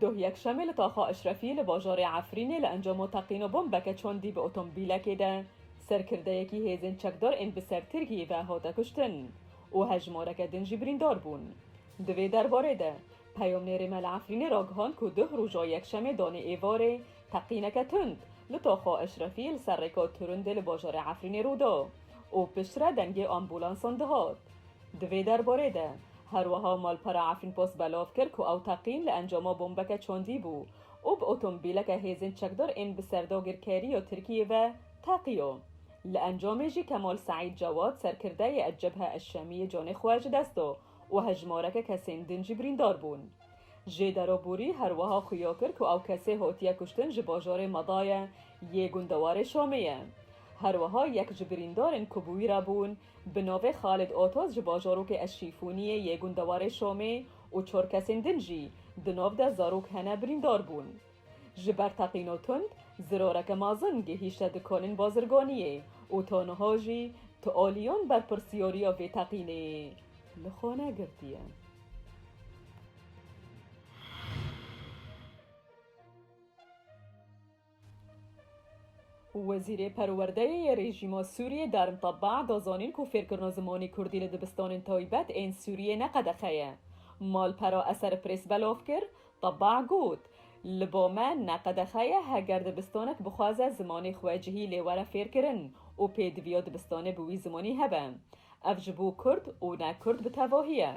Doh yekşemê li Taxa Eşrefî li bajarê Efrînê li encama teqîna bombeke çandî bi otomobîlekê de serkirdeyekî hêzên çekdar ên bi ser Tirkiyê ve hate kuştin û hejmareke din jî birîndar bûn. Di vê derbarê de peyamnêrê me li Efrînê ragihand ku doh roja yekşemê danê êvarê teqîneke tund li Taxa Eşrefî li ser rêka Turundê li bajarê Efrînê rû da û piştre dengê ambulansan dihat. Di vê derbarê de, her wiha malpera Efrînpost belav kir ku ew teqîn li encama bombeke çandî bû û bi otomobîleke hêzên çekdar ên bi ser dagirkerî ya Tirkiyê ve teqiyo. Li encamê jî Kemal Seîd Cewad serkirdeyê Ecebhe Eşşemiyê canê xwe ji dest da û hejmareke kesên din jî birîndar bûn. Jê Derabûrî her wiha xuya kir ku ew kesê hatiye kuştin ji bajarê Madaye yê gundewarê Şamê ye. Her wiha yek ji birîndarên ku bi wî re bûn, Bi navê Xalid Otoz ji bajorokê Eşîfûniyê yê gundewarê Şomê û çor kesên din jî di nav de zarok hene birîndar bûn. Ji ber teqîno tund, zirareke mezin gihîşte dikanên bazirganiyê û ta niha jî tu aliyan berpirsyariya vê teqînê li xwe negirtiye. Wezîrê Perwerdeyê yê rejîma Sûriyê Darm Tabba da zanîn ku fêrkirina zimanê Kurdî li dibistanên taybet ên Sûriyê ne qedexe ye. Malpera Eser Press belav kir, Tabba got, Li ba me ne qedexe ye heger dibistanek bixwaze zimanê xwe cihî lê were fêrkirin û pêdiviya dibistanê bi wî zimanî hebe. Ev ji bo Kurd û ne Kurd bi tevahî ye.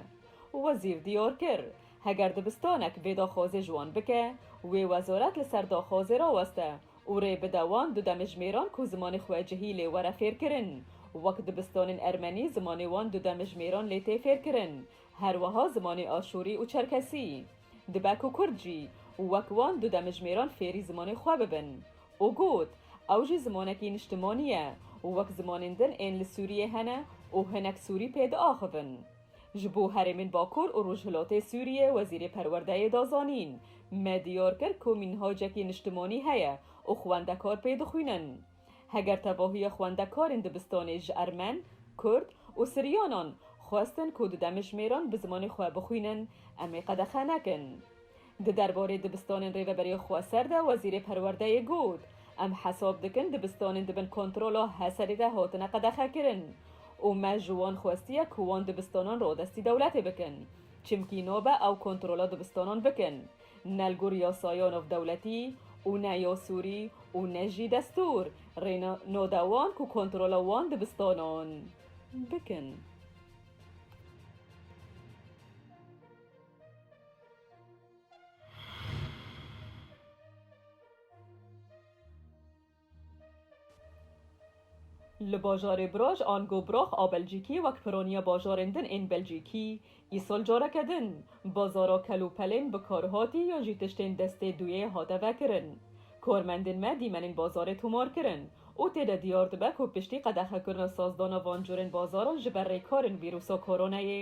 Wezîr diyar kir, Heger dibistanek vê daxwazê ji wan bike, wê wezaret li ser daxwazê raweste û rê bide wan du demijmêran ku zimanê xwe cihî lê were fêrkirin, wek dibistanên ermenî zimanê wan du demijmêran lê tê fêrkirin, her weha zimanê aşûrî û çerkesî. Dibe ku kurd jî wek wan du demijmêran fêrî zimanê xwe bibin. Û got, Ew jî zimanekî niştimanî ye, wek zimanên din ên li Sûriyê hene û hinek Sûrî pê diaxivin. Ji bo herêmên Bakur û Rojhilatê Sûriyê Wezîrê Perwerdeyê da zanîn, Me diyar kir ku mînhacekî niştimanî heye û xwendekar pê dixwînin. Heger tevahiya xwendekarên dibistanê ji Ermen, Kurd û Siryanan xwestin ku di demijmêran bi zimanê xwe bixwînin, em ê qedexe nekin. Di derbarê dibistanên Rêveberê Xweser de Wezîrê Perwerdeyê got, Em hesab dikin dibistanên di bin kontrola Heserê de hatine qedexekirin û me ji wan xwestiye ku wan dibistanan radestî dewletê bikin çimkî nabe ew kontrola dibistanan bikin ne li gor yasaya navdewletî û ne ya Sûrî û ne jî destûr rê nade wan ku kontrola wan dibistanan bikin. Li bajarê Broj an Gobroch a Belcîkî wek pironiya bajarên din ên Belcîkî, îsal careke din bazara kel û pelên bikarhatî yan jî tiştên destê duyê hate vekirin. Karmendên me dîmenên bazarê tomar kirin û tê de diyar dibe ku piştî qedexekirina sazdana van curên bazaran ji ber rêkarên vîrûsa koronayê,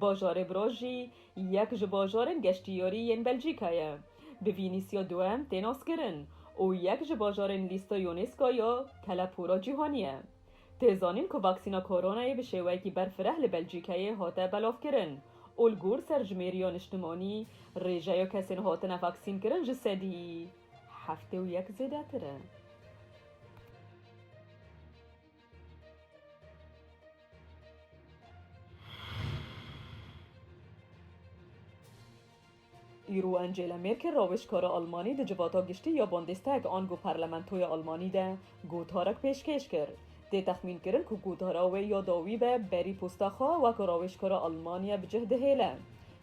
Bajarê Bro jî yek ji bajarên geştiyarî yên Belcîka ye. Bi Vînîsya Duem tê naskirin û yek ji bajarên lîsteya UNESCO ya telepora cîhanî ye. Tê zanîn ku vaksîna koronayê bi şêweyekî berfireh li Belcîkeyê hate belavkirin û li gor serjimêriya niştimanî rêjeya kesên hatine vaksînkirin ji sedî heftê û yek zêdetir e. Îro Angela Merkel rawêjkara Almanî di civata giştî ya Bundestag ango parlamentoya Almanî de gotarek pêşkêş kir. Tê texmînkirin ku gotara wê ya dawî be berî posta xwe wek rawêjkara Almaniye bi cih dihêle.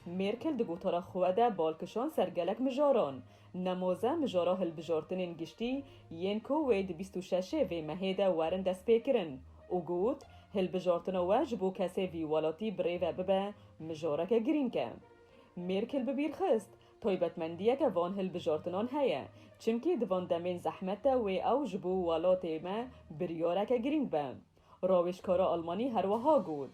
Merkel di gotara xwe de bal kişand ser gelek mijaran. Nemoze mijara hilbijortinên giştî yên ku wê di bîst û şeşê vê mehê de werin destpêkirin û got, Hilbijortina we ji bo kesê vî welatî bi rê ve bibe mijareke girîng e. Mêrkil bi bîr xist, Taybetmendiyeke van hilbijortinan heye, çimkî di van demên zehmet de wê ew ji bo welatê me biryareke girîng be. Rawêjkara Almanî her wiha got,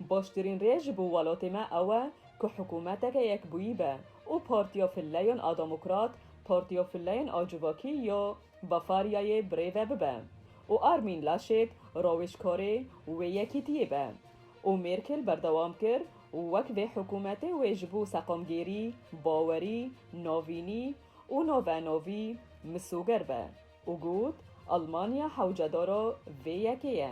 Baştirîn rê ji bo welatê me ew e ku hikûmeteke yekbûyî be û Partiya Filleyan a Demokrat Partiya Filleyan a Civakî ya Bafaryayê bi rê ve bibe û Armin Laschet rawêjkarê wê yekîtiyê be û Mêrkel berdewam kir, Wek vê hikûmetê wê ji bo seqamgêrî, bawerî, navînî û navenavî misoger be. û got, Almanya hewcedara vê yekê ye.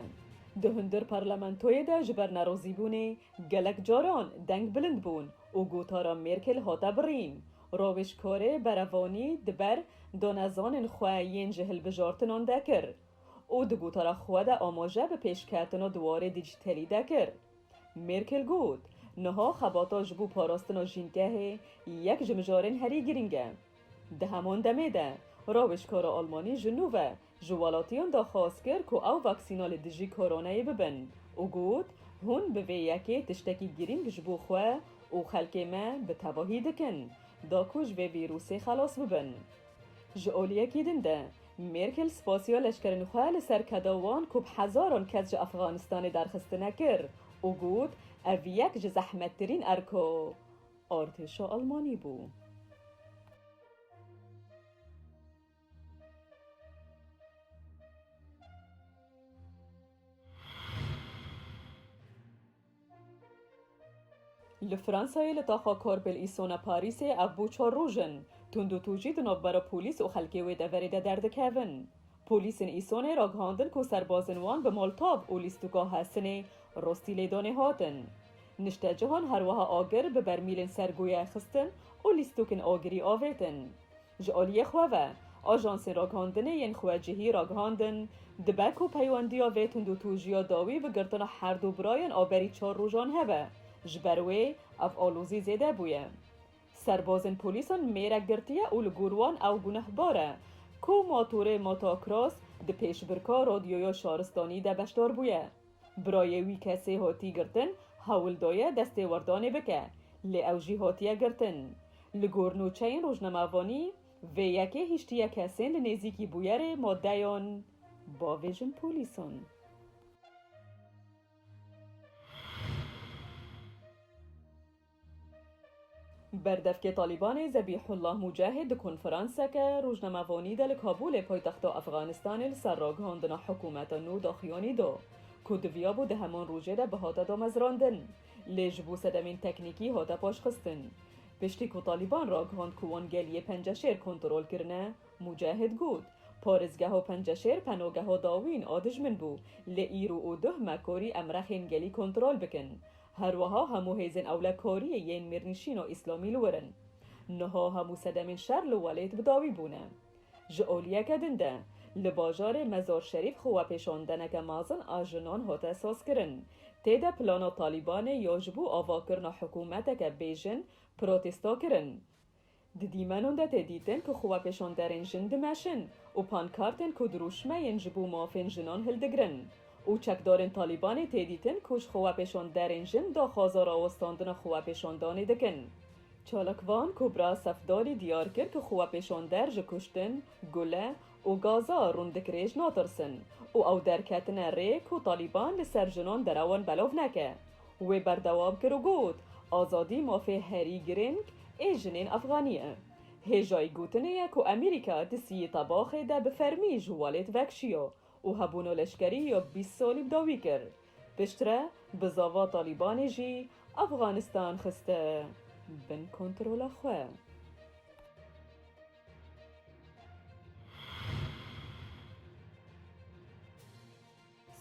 Di hundir parlamentoyê de ji ber nerozîbûnê gelek caran deng bilind bûn û gotara Mêrkel hate birîn. Rawêjkarê berevanî di ber danezanên xwe yên ji hilbijartinan de kir û di gotara xwe de amaje bi pêşketina di warê dîjîtelî de kir. Mêrkel got, Niha xebata ji bo parastina jîngehê yek ji mijarên herî girîng e. Di heman demê de, rawêjkara Almanî ji nû ve ji welatiyan daxwaz kir ku ew vaksîna li dijî koronayê bibin û got, Hûn bi vê yekê tiştekî girîng ji bo xwe û xelkê me bi tevahî dikin da ku ji vê vîrûsê xelas bibin. Ji aliyekî din de, Mêrkel spasiya leşkerên xwe li ser keda wan ku bi hezaran kes ji Efxanistanê derxistine kir û got, Ev yek ji zehmettirîn erka Artêşa Elmanî bû. Li Fransayê li taxa Korbel Îsona Parîsê ev bû çar roj in. Tundûtûcî di navbera polîs û xelkê wê deverê de derdikevin. Polîsên Îsonê ragihandin ku serbazên wan bi moltav û lîstûka hesinê rostî lêdanê hatin. Niştecihan her wiha agir bi bermîlên ser goyayê xistin û lîstûkên agirî avêtin. Ji aliyê xwe ve, ajansên ragihandinê yên xwe cihî ragihandin, dibe ku peywendiya vê tundûtûjiya dawî bi girtina herdu birayên a berî çar rojan hebe, ji ber wê ev alozî zêde bûye. Serbazên polîsan mêrek girtiye û li gor wan ew gunehbar e ku motorê motocross di pêşbirka Rodyoya Şaristanî de beşdar bûye. Birayê wî kesê hatî girtin hewl daye destêwerdanê bike, lê ew jî hatiye girtin. Li gor nûçeyên rojnamevanî, vê yekê hiştiye kesên li nêzîkî bûyerê madeyan bavêjin polîsan. Berdevkê Talîbanê Zebîhullah Mûcahîd di konferanseke rojnamevanî de li Kabûlê paytexta Efxanistanê li ser ragihandina hikûmeta nû daxuyanî da ku diviyabû di heman rojê de bihate damezrandin lê ji bo sedemên teknîkî hate paşxistin. Piştî ku Talîban ragihand ku wan geliyê Penceşêr kontrol kirine, Mûcahîd got, Parêzgeha Penceşêr penageha dawîn a dijmin bû lê îro û duh me karî em rexên gelî kontrol bikin. Herweha hemû hêzên ewlekariyê yên mêrnîşîna îslamî li wir in. Niha hemû sedemên şer li welêt bi dawî bûne. Ji oliyeke din de, li bajarê Mezarşerîf xwepêşandeneke mezin a jinan hate sazkirin. Tê de plana Talîbanê ya ji bo avakirina hikûmeteke bêjin protesta kirin. Di dîmenan de tê dîtin ku xwepêşanderên jin dimeşin û pankartên ku dirûşmeyên ji bo mafên jinan hildigirin û çekdarên Talîbanê tê dîtin ku ji xwepêşanderên jin daxwaza rawestandina xwepêşandanê dikin. Çalakvan Kûbra Sefdalî diyar kir ku xwepêşander ji kuştin, gule û gaza rûndikrêj natirsin û ew derketine rê ku Talîban li ser jinan derewan belav neke. Wê berdewam kir û got, Azadî mafê herî girêng ê jinên Efxanî ye. Hêjayî gotinê ye ku Amerîka di Siyê Tabaxê de bi fermî ji Walêt vekşiya û hebûna leşkerî ya bîst salî bi dawî kir. Piştre bi zava Talîbanê jî Efxanistan xiste bin kontrola xwe.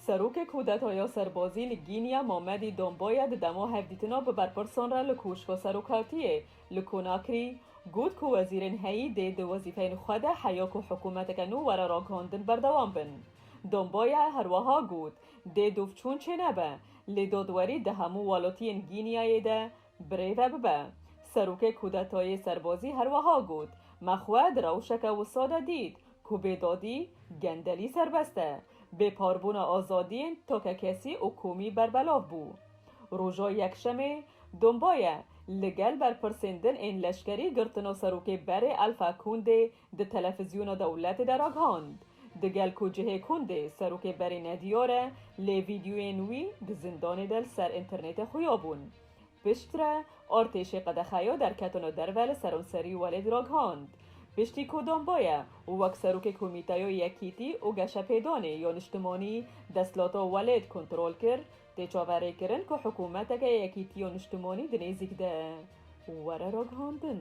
Serokê Kûdetaya Serbazî li Gînya Mamedî Domboya di dema hevdîtina bi berpirsan re li Koşka Serokatiyê li Konakrî got ku wezîrên heyî dê di wezîfeyên xwe de heya ku hikûmeteke nû were ragihandin berdewam bin. Domboya herwiha got, Dê dûvçûn çênebe, lê dadwerî di hemû welatiyên Gînyayê de Birê ve bibe. Serokê Kûdetayê Serbazî her weha got, Me xwe di rewşeke wisa de dît ku bêdadî, gendelî serbest e. Bêparbûna azadiyên takekesî û komî berbelav bû. Roja Yekşemê, Dombaye li gel berpirsên din ên leşkerî girtina serokê berê Alpha Condê Di telefizyona dewletê de ragihand, di gel ku cihê kund ê serokê berê nediyar e, lê vîdyoyên wî di zindanê de li ser înternêtê xuya bûn. Piştre artêşê qedexeya derketana derve li seranserî welêt ragihand, piştî ku Dambaye wek serokê Komîteya Yekîtî û Geşepêdanê ya Niştimanî desthilata welêt kontrol kir, tê çaverêkirin ku hikûmeteke yekîtî ya niştimanî di nêzîk de were ragihandin.